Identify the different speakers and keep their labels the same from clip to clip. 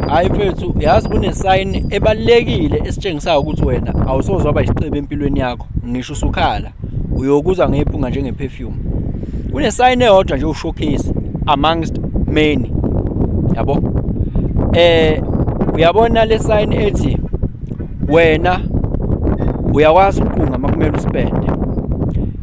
Speaker 1: hayi mfethu yazi kunesayini ebalulekile esitshengisayo ukuthi wena awusoze waba isiqibi empilweni yakho ngisho usukhala uyokuza ngephunga njenge-perfume kunesayini eyodwa nje ushowcase amongst many yabo eh uyabona le sayini ethi wena uyakwazi ukuqunga uma kumele usipende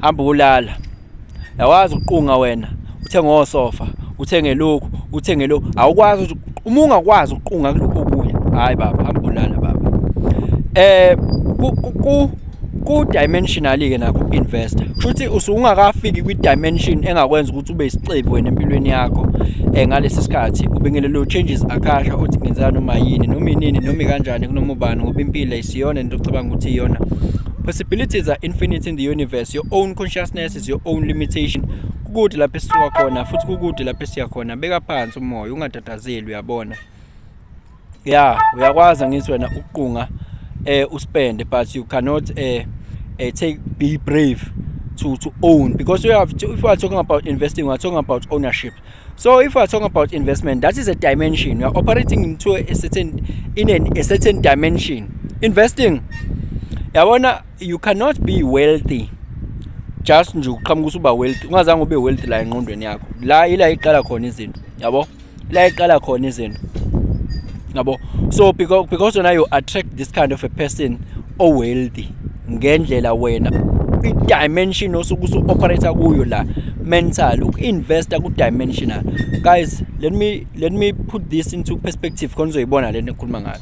Speaker 1: hamba ulala yawazi uqunga wena uthenge osofa uthenge lokhu uthenge lokhu awukwazi ukuthi uma ungakwazi ukuqunga kulokho okunye hayi baba hamba ulala baba eh ku ku dimensional ke nakho investor kushuthi usungakafiki kwi dimension engakwenza ukuthi ube isicebi wena empilweni yakho eh ngalesi sikhathi ubingelelo changes akasha uthi ngenzeka noma yini noma inini noma kanjani kunoma ubani ngoba impilo isiyona into ocabanga ukuthi iyona Abilities are infinite in the universe. Your own consciousness is your own limitation. Kukude lapho esisuka khona futhi kukude lapho esiya khona. Beka phansi umoya ungatatazeli uyabona. Yeah, uyakwazi ngithi wena ukuqunga eh uspende but you cannot eh, eh take be brave to to own because you have to, if you are talking about investing we are talking about ownership So if we are talking about investment, that is a dimension. You are operating into a certain in an, a certain dimension. Investing. Yabona you cannot be wealthy just nje uqhamuka usuba wealthy ungazange ube wealthy la enqondweni yakho la ila iqala khona izinto yabo la iqala khona izinto yabo so because because now you attract this kind of a person owealthy ngendlela wena i-dimension osuke usu-operator kuyo la mental uku-investa ku-dimensional guys let me, let me put this into perspective khona uzoyibona le nto ekhuluma ngayo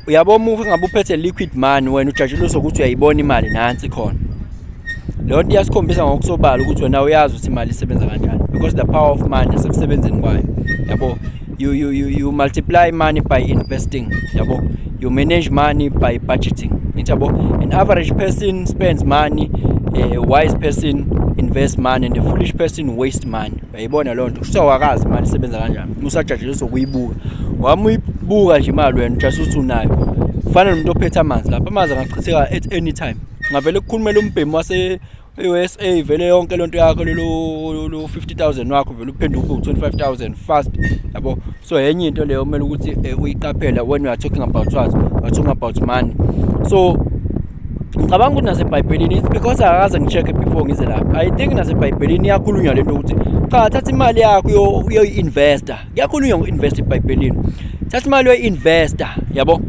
Speaker 1: uyabo uma ngabe uphethe liquid money wena ujatshelisa ukuthi uyayibona imali nansi khona leyo nto iyasikhombisa ngokusobala ukuthi wena uyazi ukuthi imali isebenza kanjani because the power of money sekusebenzeni kwayo yabo you you you, you multiply money by investing yabo you manage money by budgeting yabo an average person spends money a wise person invest money and a foolish person waste money uyayibona loo nto kuthiwa wakazi imali isebenza kanjani musajajeliswa ukuyibuka wami uyibuka nje imali wena just uthi unayo kufanele umuntu ophethe amanzi lapho amanzi angachitheka at any time ngavele kukhulumela umbhemu wase e-USA vele yonke lento yakho lolu lu 50000 wakho vele uphenduka ube 25000 fast yabo so yenye into leyo kumele ukuthi eh, uyiqaphela when you are talking about what you are talking about money so ngicabanga ukuthi nasebhayibhelini it's because akaze ngi-check-e before ngize lapha i think nasebhayibhelini iyakhulunywa le nto ukuthi cha thatha imali yakho uyoyi-investa kuyakhulunywa ngo-investa ebhayibhelini thatha imali uyoyi-investa yabo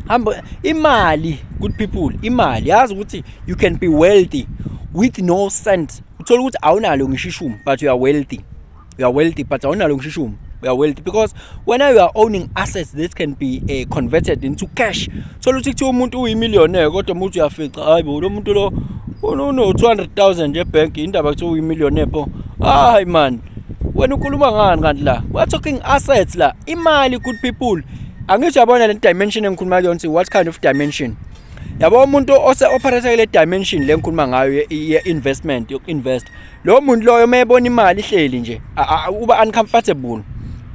Speaker 1: hamba imali good people imali yazi ukuthi you can be wealthy with no cent uthola ukuthi awunalo ngisho ishumi but you are wealthy you are wealthy but awunalo ngisho ishumi you are wealthy because when you are owning assets that can be uh, converted into cash thola ukuthi kuthiwa umuntu uyimillionaire kodwa umuntu uyafica hayi bo lo muntu lo uno 200000 ebank indaba kuthiwa uyimillionaire bo hayi man wena ukhuluma ngani kanti la we are talking assets la imali good people angisho yabona le dimension engikhuluma kuyona what kind of dimension yabo umuntu ose operator kule dimension lengikhuluma ngayo ye investment yoku invest lo muntu loyo mayebona imali ihleli nje uba uncomfortable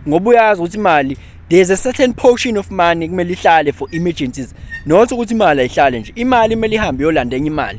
Speaker 1: ngoba uyazi ukuthi imali there's a certain portion of money kumele ihlale for emergencies not ukuthi imali ayihlale nje imali kumele ihambe yolanda enye imali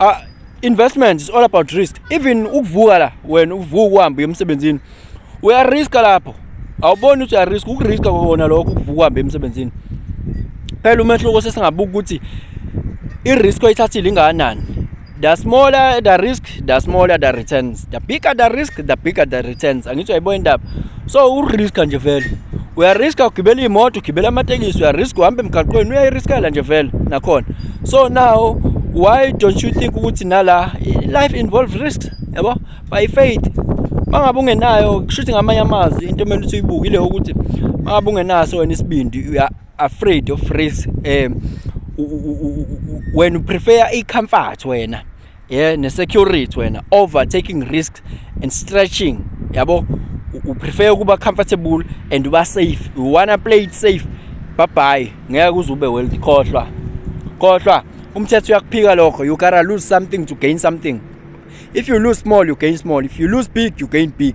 Speaker 1: uh, investment is all about risk even ukuvuka la wena uvuka uhambe emsebenzini uyariska lapho awuboni ukuthi uyariska ukuriska kona lokho ukuvuka uhambe emsebenzini phela umehluko sesingabuka ukuthi i-risk oyithathile ingakanani the smaller the risk the smaller the returns the bigger the risk the bigger the returns angithi uyayibona indaba so uriska nje vele uyariska ugibela iy'moto ugibela amatekisi uyariska uhamba emgaqweni uyayiriskela nje vele nakhona so now why don't you think ukuthi nala life involves risks yabo by faith mangabe ungenayo kushuthi ngamanye amazwi into emele ukuthi uyibukile ukuthi mangabe ungenaso wena isibindi you are afraid of risk um wena uprefer i-comfort wena yeah ne-security wena overtaking risks and stretching yabo uprefer ukuba comfortable and uba safe you wanna play it safe babhayi ngeke uze ube wealthy khohlwa khohlwa umthetho uyakuphika lokho you gotta lose something to gain something if you lose small you gain small if you lose big you gain big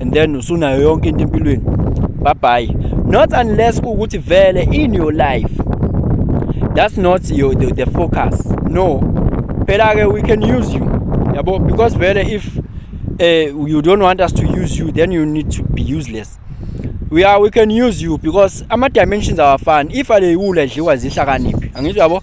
Speaker 1: and then usunayo yonke into empilweni bye bye not unless ukuthi vele in your life that's not your the, the focus no phela ke we can use you yabo because vele if uh, you don't want us to use you then you need to be useless we are we can use you because ama dimensions awafani if aleyula edliwa zihlakaniphi angizwa yabo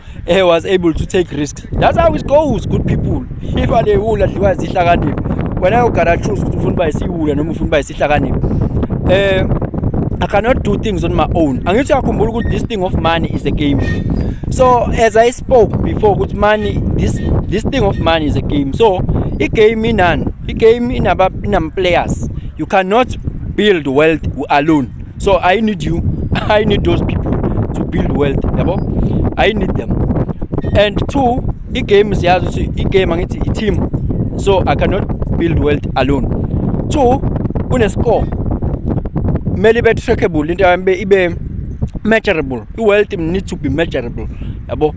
Speaker 1: he was able to take risks that's how it goes good people if alewula dliwa isihlakaniphi wena ugara choose ukuthi ufuna uba isiwula noma ufuna uba isihlakaniphi eh I cannot do things on my own angithi uyakhumbula ukuthi this thing of money is a game so as I spoke before ukuthi money this this thing of money is a game so i-game inani i-game inama-players you cannot build wealth alone so i need you i need those people to build wealth yabo i need them and two i-game siyazi ukuthi i-game angithi i-team so i cannot build wealth alone two kunescore kumele ibe trackable into yami ibe measurable i-wealth need to be measurable yabo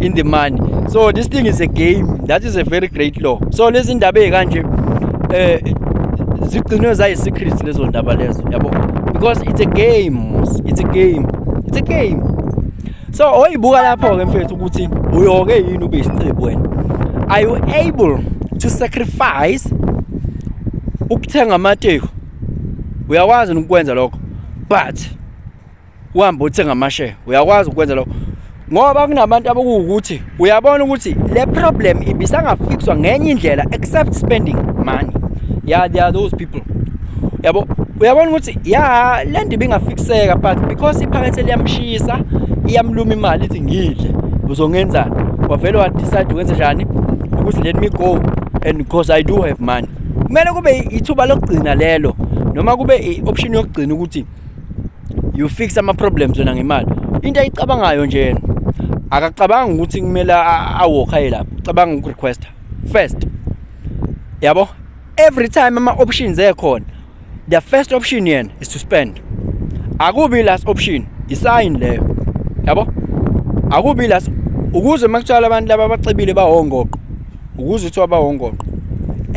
Speaker 1: in the money so this thing is a game that is a very great law so lezi ndaba ezikanje eh zigcinwe zayi secrets lezo ndaba lezo yabo because it's a game it's a game it's a game so oyibuka lapho ke mfethu ukuthi uyoke yini ube isicebo wena are you able to sacrifice ukuthenga amateko uyakwazi ukwenza lokho but uhambe uthenga amasheya uyakwazi ukwenza lokho ngoba kunabantu abakuwukuthi uyabona ukuthi le problem ibisangafikswa ngenye indlela except spending money yeah there are those people yabo uyabona ukuthi ya le nto ibingafikiseka but because iphakethe liyamshisa iyamluma imali ithi ngidle uzongenzani wavele wadecide ukwenza njani ukuthi let me go and because i do have money kumele kube ithuba lokugcina lelo noma kube i-option yokugcina ukuthi you fix ama problems wena ngemali into ayicabangayo nje yena akacabanga ukuthi kumele awalk aye lapho ucabanga uku request first yabo every time ama options ekhona the first option yena is to spend akubi last option isign leyo yabo akubi last ukuze makutshela abantu laba abacebile bawongoqo ukuze uthi wabawongoqo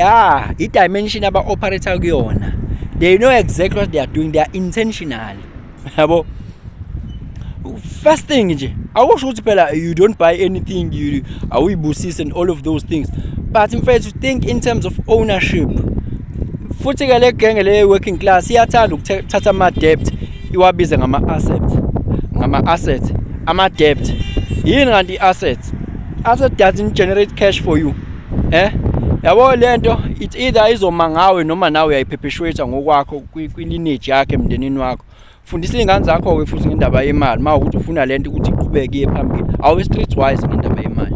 Speaker 1: ah i-dimension aba-operator kuyona they know exactly what they are doing they are intentional yabo first thing nje awusho ukuthi phela you don't buy anything you awuyibusisi and all of those things but mfethu think in terms of ownership futhi ke le genge le working class iyathanda ukuthatha ama debt iwabize ngama assets ngama assets ama debt yini kanti i assets after doesn't generate cash for you eh yabo lento it's either izoma ngawe noma nawe uyayiphepheshwetha ngokwakho kwi-lineage yakhe emndenini wakho fundisa iy'ngane zakho-ke futhi ngendaba yemali uma ukuthi ufuna lento ukuthi iqhubeke iye phambili awu i-street wise ngendaba yemali